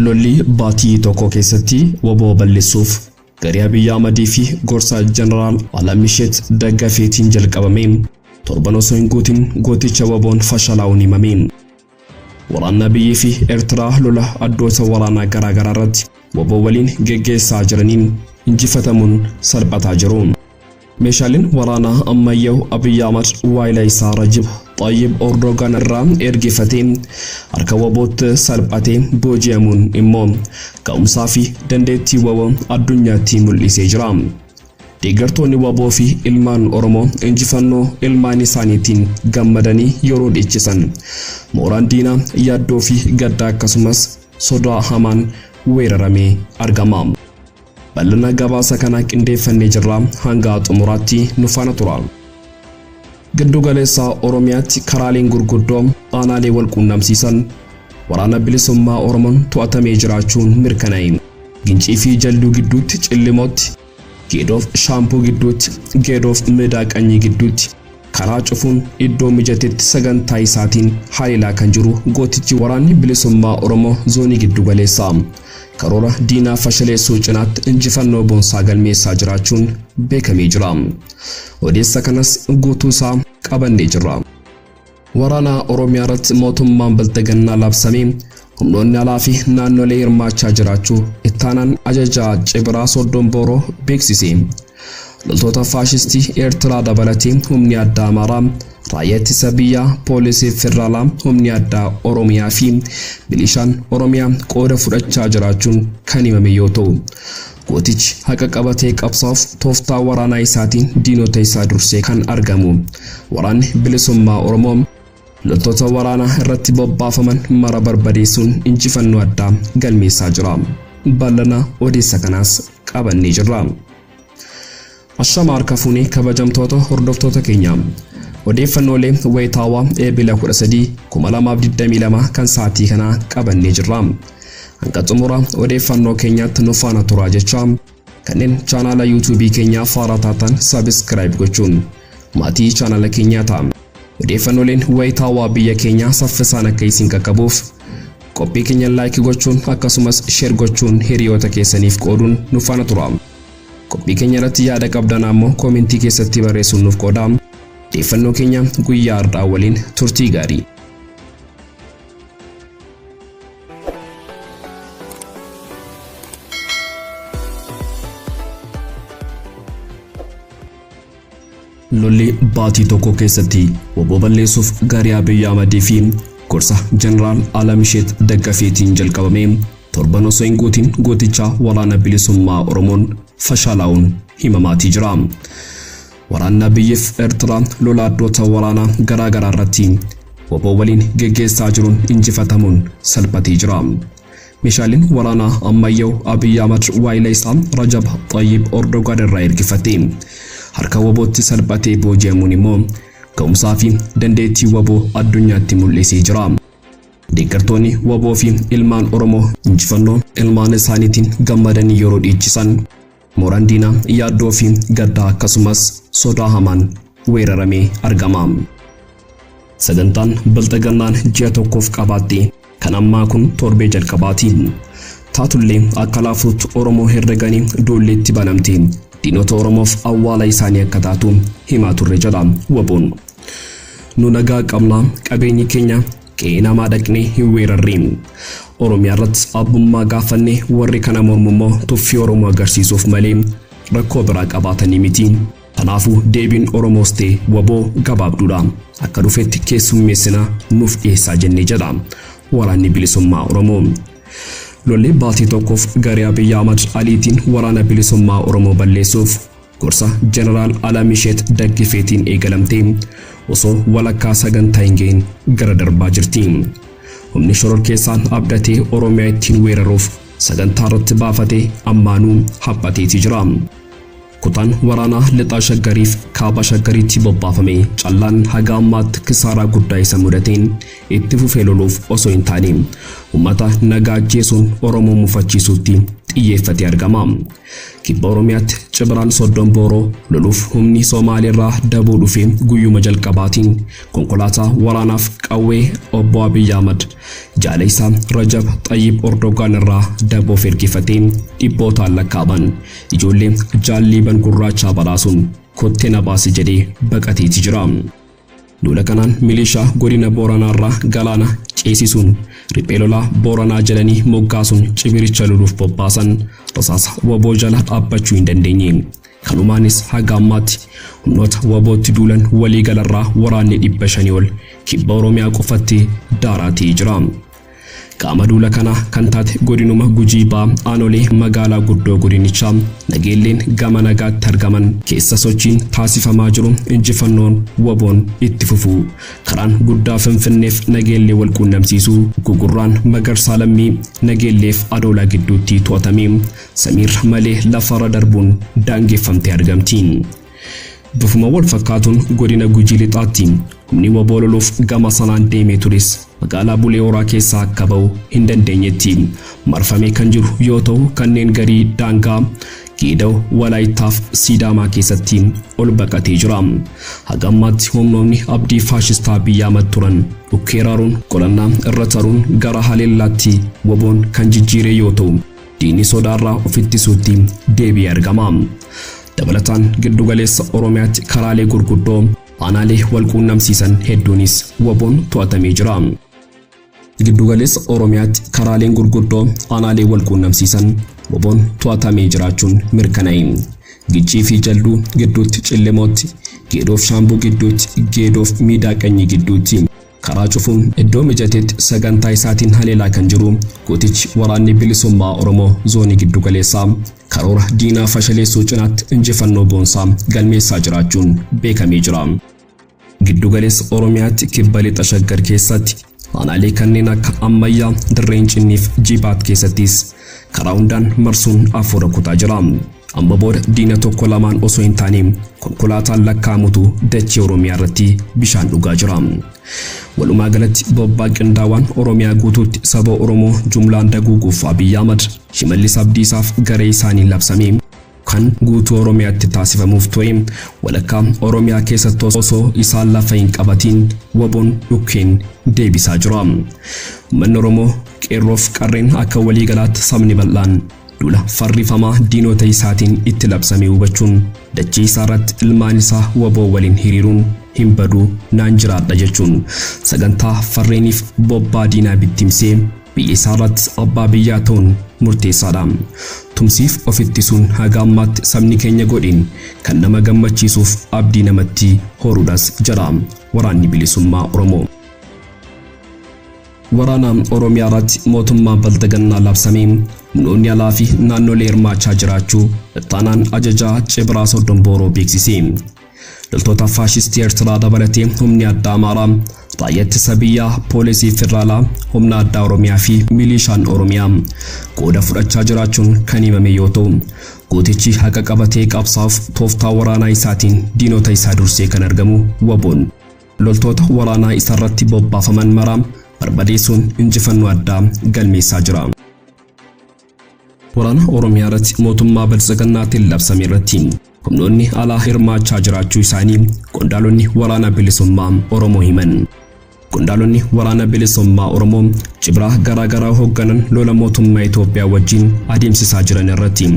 Lolli baatii tokko keessatti waboo balleessuuf garee Abiyyi Ahmadii fi gorsaa Jeneraal Alamisheet Daggafeetiin jalqabame torban osoo hin guutin gooticha waboon fashalaa'uun himame. Waraanni Abiyyii fi Eertiraa lola addoota waraanaa garaa garaa irratti waboo waliin geggeessaa jiraniin injifatamuun salphataa jiru. Meeshaaleen waraanaa ammayyaa'u Abiy Ahmad waayila isaa Rajib Xayyib Ordogan irraa ergifatee harka wabootti salphatee booji'amuun immoo ga'umsaa fi dandeettii wabo addunyaatti mul'isee jira. Deeggartoonni wbo fi ilmaan Oromoo injifannoo ilmaan isaaniitiin gammadanii yeroo dhiichisan, mooraan diinaa yaaddoo fi gadda akkasumas sodaa hamaan weeraramee argama. Bal'ina gabaasa kanaa qindeeffannee jirra, hanga xumuraatti nu faana turaa. Giddu galeessa Oromiyaatti karaaleen gurguddoo aanaalee wal quunnamsiisan Waraana Bilisummaa Oromoon to'atamee jiraachuun mirkanaa'e. Gincii fi Jalduu gidduutti Cillimootti, Geedoof Shaampuu gidduutti, Geedoof Meedaa Qanyii gidduutti karaa cufuun iddoo mijatetti sagantaa isaatiin haleelaa kan jiru gootichi Waraanni Bilisummaa Oromoo Zoonii Giddu Galeessaa. karoora diinaa fashaleessuu cinaatti injifannoo boonsaa galmeessaa jiraachuun beekamee jira. Odeessa kanas guutuu isaa qabannee jirra. Waraana Oromiyaa irratti mootummaan Bilxiginnaa labsamee humnoonni alaa fi naannolee hirmaachaa jiraachuu ittaanaan ajajaa Cibiraa Soddon Booroo beeksise. Loltoota faashistii Eertiraa dabalatee humni addaa Amaaraa, raayyaa ittisa biyyaa, poolisii federaalaa, humni addaa Oromiyaa fi milishaan Oromiyaa qooda fudhachaa jiraachuun kan himame yoo ta'u, gootichi haqa qabatee qabsaa'uuf tooftaa waraanaa isaatiin diinota isaa dursee kan argamu waraanni bilisummaa Oromoo Loltoota waraanaa irratti bobbaafaman mara barbadeessuun injifannoo addaa galmeessaa jira. Bal'ana odeessa kanaas qabannee jirra. Ashama harka fuunee kabajamtoota hordoftoota keenya. Odeeffannoolee wayitaawaa Eebila 13, 2022 kan sa'aatii kanaa qabannee jirra. Hanga xumura odeeffannoo keenyaatti nu faana turaa jechaa Kanneen chaanaala YouTube keenyaaf haaraa taatan subscribe gochuun maatii chaanaala keenyaa ta'a. Odeeffannooleen wayitaawaa biyya keenyaa saffisaan akka isin qaqqabuuf qophii keenya like gochuun akkasumas share gochuun hiriyoota keessaniif qooduun nu faana tura. Qophii keenya irratti yaada qabdan ammoo koomentii keessatti barreessuun nuuf qoodaa. Odeeffannoo keenya guyyaa har'aa waliin turtii gaarii. lolli baatii tokko keessatti woboo balleessuuf gaarii Abiy Ahmadii fi gorsa Jeneraal Alamisheet Daggafeetiin jalqabame torban osoo hin guutin gooticha walaana bilisummaa Oromoon fashaalaa'uun himamaatii jira. Waraanni Abiyyiif Ertiraa lola addoota waraanaa garaa garaa irratti waboo waliin geggeessaa jiruun injifatamuun salphatee jira. Meeshaaleen waraanaa ammayyaa'u Abiy Ahmad waayila isaa Rajab Xayyib Ordogaan irraa ergifate harka wabootti salphatee booji'amuun immoo ga'umsaa fi dandeettii waboo addunyaatti mul'isee jira. Deeggartoonni waboo fi ilmaan Oromoo injifannoo ilmaan isaaniitiin gammadanii yeroo dhiichisan Mooraan diinaa yaaddoo fi gaddaa akkasumas sodaa hamaan weeraramee argama. Sagantaan Bilxigannaan ji'a tokkoof qabaatte kan ammaa kun torbee jalqabaati. Taatullee akka laafuutti Oromoo herreganii duulli itti banamte diinota Oromoof awwaala isaanii akka taatu himaa turre jedha waboon. Nu nagaa qabna qabeenyi keenya Qe'ee namaa dhaqnee hin weerarre. Oromiyaa irratti abbummaa gaafanne warri kana mormu immoo tuffii Oromoo agarsiisuuf malee rakkoo biraa qabaatanii miti. Kanaafuu deebiin Oromoos ta'e waboo gabaabduudha. Akka dhufetti keessummeessina nuuf dhiyeessaa jennee jedha waraanni bilisummaa Oromoo. Lolli baatii tokkoof garee Abiyyi Ahmad Aliitiin waraana bilisummaa Oromoo balleessuuf Gorsa Jeneraal Alamisheet Daggifeetiin eegalamtee osoo walakkaa sagantaa hin gahin gara darbaa jirti. Humni shororkeessaan abdatee Oromiyaa ittiin weeraruuf sagantaa irratti baafate ammaanuu haphateeti jira. Kutaan waraanaa lixaa shaggariif kaaba shaggariitti bobbaafame callaan haga ammaatti kisaaraa guddaa isa mudateen itti fufee loluuf osoo hin taane uummata nagaa ajjeesuun Oromoo mufachiisuutti xiyyeeffatee argama. Kibba Oromiyaatti Cibraan Soddon Booroo loluuf humni Somaaleerraa daboo dhufe guyyuma jalqabaatiin konkolaataa waraanaaf qawwee Obbo Abiy Ahmad jaala isaa Rajab Xayyib Ordogaan irraa daboof ergifatee dhibbootaan lakkaa'aman ijoollee jaal Liiban Gurraachaa badhaasuun kottee na baasi jedhee baqateeti jira. Duula kanaan milishaa godina Booranaarraa Galaana ceesisuun riphee lolaa Booranaa jedhanii moggaasuun cibiricha loluuf bobbaasan rasaasa wbo jala dhaabbachuu hin dandeenye. Kanumaanis haga ammaatti humnoota WBOtti duulan waliigalarraa waraanni 500 ol kibba Oromiyaa qofatti daaraa ta'ee jira. Qaama duula kanaa kan taate godinuma Gujii Bahaa aanolee magaalaa guddoo godinichaa Nageelleen gama nagaatti argaman keessa sochiin taasifamaa jiru injifannoon wboon itti fufuu karaan guddaa Finfinneef Nageellee wal quunnamsiisu Gugurraan Magarsaa Lammii Nageelleef Adoolaa gidduutti to'atamee samiirra malee lafarra darbuun daangeffamtee argamti. Bifuma wal fakkaatuun godina Gujii Lixaatti humni waboo loluuf gama sanaan deemee tures magaalaa Bulee Horaa keessaa akka ba'u hin dandeenyetti marfamee kan jiru yoo ta'u kanneen garii daangaa Geeda'u Walaayittaaf Siidaamaa keessatti ol baqatee jira. Haga ammaatti humnoonni abdii faashistaa Abiy Ahmad turan dhukkeeraaruun qolannaa irra taruun gara haleellaatti waboon kan jijjiiree yoo ta'u diinni sodaarraa of ittisuutti deebi'ee argama. Dabalataan giddugaleessa Oromiyaatti karaalee gurguddoo aanaalee wal quunnamsiisan hedduunis waboon to'atamee jira. Giddugaleessa Oromiyaatti karaaleen gurguddoo aanaalee wal quunnamsiisan waboon to'atamee jiraachuun mirkanaa'e. Gichii fi Jalduu gidduutti Cillimootti, Geedoof Shaambuu gidduutti, Geedoof Miidaa Qanyii gidduutti. Karaa cufuun iddoo mijatetti sagantaa isaatiin haleelaa kan jiru gootichi Waraanni Bilisummaa Oromoo Zoonii Giddugaleessaa karoora diinaa fashaleessuu cinaatti injifannoo boonsaa galmeessaa jiraachuun beekamee jira. Giddugaleessa Oromiyaatti Kibba Lixa Shaggar keessatti aanaalee kanneen akka Ammayyaa, Dirree Incinnii fi Jibaat keessattis karaa hundaan marsuun afuura kutaa jira. Amma booda diina tokko lamaan osoo hin taane konkolaataan lakkaa'amutu dachee Oromiyaa irratti bishaan dhugaa jira. Walumaa galatti bobbaa qindaawaan Oromiyaa guutuutti saba Oromoo jumlaan daguuguuf Abiy Ahmad, Shimallis Abdiisaaf garee isaaniin labsame kan guutuu Oromiyaatti taasifamuuf ture walakkaa Oromiyaa keessatti osoo isaan lafa hin qabatiin waboon dhukkeen deebisaa jira. Uummanni Oromoo qeerroof qarreen akka waliigalaatti sabni bal'aan Duula farrifamaa diinota isaatiin itti labsame hubachuun dachii isaarratti ilmaan isaa waboo waliin hiriiruun hin baduu naan jiraadha jechuun sagantaa farreeniif bobbaa diinaa bittimsee biyya isaarratti abbaa biyyaa ta'uun murteessaadha. Tumsiif of ittisuun haga ammaatti sabni keenya godheen kan nama gammachiisuuf abdii namatti horuudhas jedha Waraanni Bilisummaa Oromoo. Waraana Oromiyaa irratti mootummaa Balxigannaa labsame. Humnoonni alaa fi naannolee hirmaachaa jiraachuu Ittaanaan Ajajaa Cibraa Soddon Booroo beeksise. Loltoota faashistii Eertiraa dabalatee humni addaa Amaaraa, raayyaa ittisa biyyaa, poolisii federaalaa, humna addaa Oromiyaa fi milishaan Oromiyaa qooda fudhachaa jiraachuun kan himame yoo ta'u, gootichi haqa qabatee qabsaa'uuf tooftaa waraanaa isaatiin diinota isaa dursee kan argamu waboon loltoota waraanaa isarratti bobbaafaman maraa barbadeessuun injifannoo addaa galmeessaa jira. Waraana Oromiyaa irratti mootummaa Badhasaganaatiin labsame irratti humnoonni alaa hirmaachaa jiraachuu isaanii qondaalonni waraana bilisummaa Oromoo himan. Qondaalonni waraana bilisummaa Oromoo cibraa garaagaraa hoogganan lola mootummaa Itoophiyaa wajjin adeemsisaa jiran irratti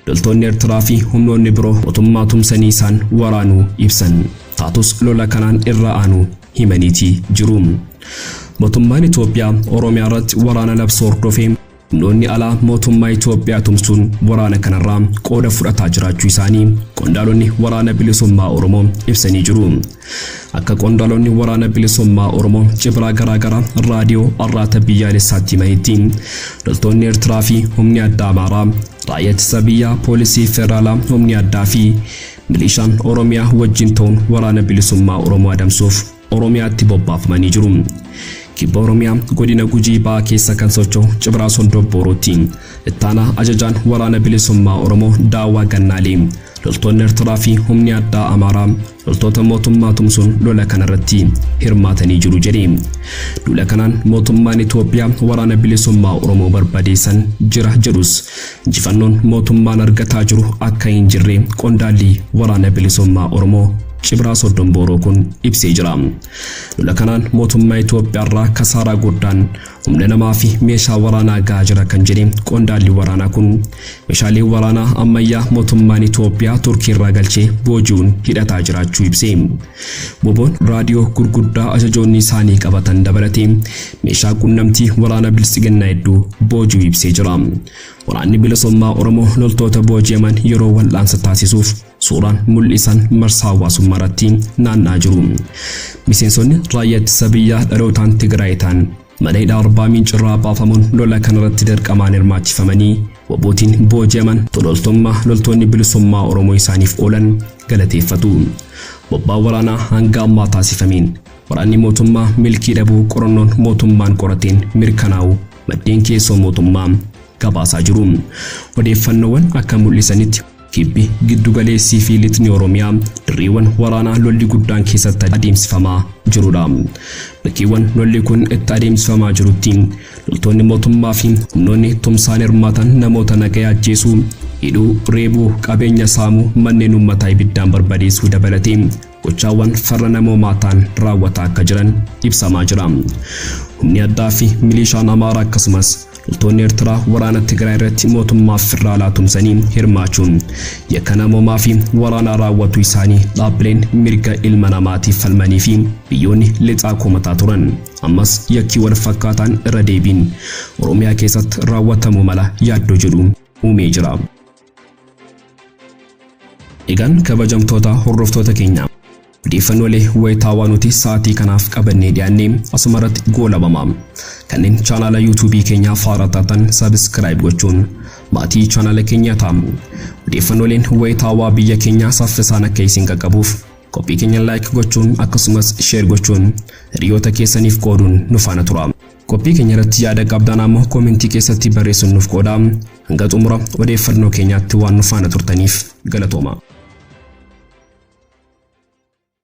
Loltoonni Ertiraa fi humnoonni biroo mootummaa tumsanii isaan waraanuu ibsan. Taatus lola kanaan irra aanu himaniiti jiru. Mootummaan Itoophiyaa Oromiyaa irratti waraana labsuu hordofee humnoonni alaa mootummaa Itoophiyaa tumsuun waraana kanarraa qooda fudhataa jiraachuu isaanii qondaalonni waraana bilisummaa Oromoo ibsanii jiru. Akka qondaalonni Waraana Bilisummaa Oromoo cibraa garaagaraa raadiyoo arraata biyyaalessaatti himanitti loltoonni Eertiraa fi humni addaa Amaaraa, raayyaa ittisa biyyaa, poolisii federaalaa, humni addaa fi milishaan Oromiyaa wajjin ta'uun Waraana Bilisummaa Oromoo adamsuuf Oromiyaatti bobbaafamanii jiru. Kibba Oromiyaa godina Gujii ba'aa keessa kan socho'u Cibraa Soldobboorootti ittaanaa ajajaan Waraana Bilisummaa Oromoo Daawwaa Gannaalee loltoonni Eertiraa fi humni addaa Amaaraa Loltoota mootummaa tumsuun lola kanarratti hirmaatanii jiru jedhe. Duula kanaan mootummaan Itoophiyaa waraana bilisummaa Oromoo barbadeessan jira jedhus injifannoon mootummaan argataa jiru akka hin jirre qondaalli waraana bilisummaa Oromoo Cibraa Soddon Booroo kun ibsee jira. Lola kanaan mootummaa Itoophiyaarraa kasaaraa guddaan Humna namaa fi meeshaa waraanaa gahaa jira kan jedhe qondaalli waraanaa kun, meeshaalee waraanaa ammayyaa mootummaan Itoophiyaa Turkii irraa galchee booji'uun hidhataa jiraachuu ibse. Woboon raadiyoo gurguddaa ajajoonni isaanii qabatan dabalatee meeshaa qunnamtii waraana Biltsiginnaa hedduu booji'uu ibsee jira. Waraanni Bilisummaa Oromoo loltoota booji'aman yeroo wal'aansa taasisuuf Suuraan mul'isan marsaa hawaasummaa irratti naanna'aa jiru. Miseensonni raayyaa ittisa biyyaa dhalootaan Tigraay ta'an mana hidhaa Arbaa Miinci irraa baafamuun lola kanarratti dirqamaan hirmaachifamanii wabootiin booji'aman tololtummaa loltoonni bilisummaa Oromoo isaaniif oolan galateeffatu. Bobbaa waraanaa hanga ammaa taasifameen waraanni mootummaa milkii dhabuu qorannoon mootummaan qorateen mirkanaa'u maddeen keessoo mootummaa gabaasaa jiru. Odeeffannoowwan akka mul'isanitti Kibbi, Giddu Galeessii fi Lixni Oromiyaa dirreewwan waraanaa lolli guddaan keessatti adeemsifamaa jirudha. Bakkeewwan lolli kun itti adeemsifamaa jirutti loltoonni mootummaa fi humnoonni tumsaan hirmaatan namoota nagaya ajjeesuu, hidhuu, reebuu, qabeenya saamuu, manneen uummataa ibiddaan barbadeessuu dabalatee gochaawwan farra namoomaa ta'an raawwataa akka jiran ibsamaa jira. Humni addaa fi miliishaan Amaaraa akkasumas loltoonni Ertiraa waraana Tigraay irratti mootummaa federaalaa tumsanii hirmaachuun yakka namoomaa fi waraanaa raawwatuu isaanii dhaabbileen mirga ilma namaatiif falmanii fi biyyoonni lixaa komataa turan. Ammas yakkii wal fakkaataan irra deebiin Oromiyaa keessatti raawwatamuu mala yaaddoo jedhu uumee jira. Egaan kabajamtoota hordoftoota keenya odeeffannoolee wayitaawaa nuti sa'aatii kanaaf qabannee dhiyaanne asuma irratti goolabama. Kanneen chaanaala yuutuubii keenyaaf haaraa taatan sabiskiraayib gochuun maatii chaanaala keenyaa ta'a. Odeeffannooleen wayitaawaa biyya keenyaa saffisaan akka isin qaqqabuuf qophii keenya laayik gochuun akkasumas sheer gochuun hiriyoota keessaniif qooduun nu faana tura. Qophii keenya irratti yaada qabdaan ammoo koomentii keessatti barreessuun nuuf qoodaa. Hanga xumura odeeffannoo keenyaatti waan nu faana turtaniif galatoomaa.